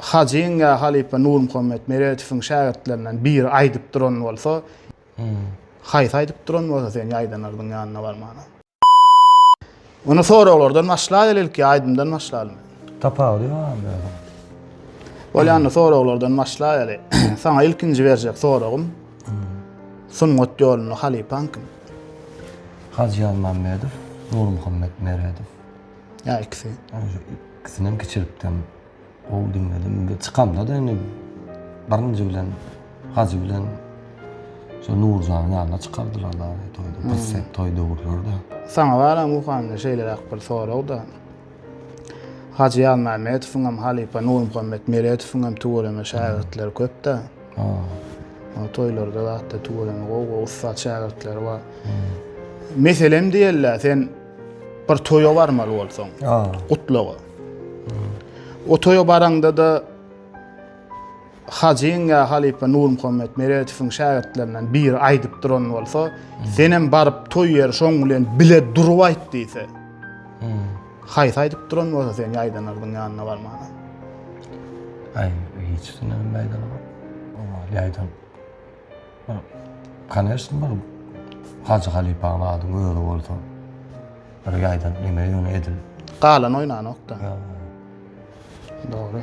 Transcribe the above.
Hajyň ýa halypa Nurmuhammet Meredowyň şägirtlerinden biri aýdyp duran bolsa, haýsy aýdyp duran bolsa sen ýaýdanardyň ýanyna barmana. Ony soraglardan başlaýaly ilki aýdymdan başlalymy? Tapawudy ýogammy ýöne? Bolýanda soraglardan başlaýaly. Saňa ilkinji berjek soragym, sungat ýolunda halypaň kim? Hajy Ýazmammedow, Nurmuhammet Meredow. Ýa ikisi. Ikisinem kiçilikden gowy diňledim. Indi çykamda-da indi birinji bilen Hajy bilen şu Nurjanyň ýanyna çykardylar-la toýda. Bir set toý döwürleri-de. Saňa baran Muhammet şeýleräk bir sorag-da. Hajy Ýazmämmedowyňam halypa Nurmuhammet Meretowyňam tüweleme şägirtleri köp-dä. Ol toýlarda zat-da tüweleme gowy-gowy ussat şägirtleri bar. Meselem diýeli-dä, sen Bir toýa barmaly bolsaň, gutlaga. O toýa baraňda-da Hajyň ýa halypa Nurmuhammet Meredowyň şägirtlerinden biri aýdyp duran bolsa, senem baryp toý ýeri şoň bilen bile durup aýt diýse. Haýsy aýdyp duran bolsa sen ýaýdanardyň ýanyna barmana. Aý, hiç düşünmedim. Ýaýdan. Bir, koneşn bir Hajy halypanyň adyň özi bolsa, bir ýaýdan neme ýöne edil. Galan oýnanokda. Ýa. Dogry.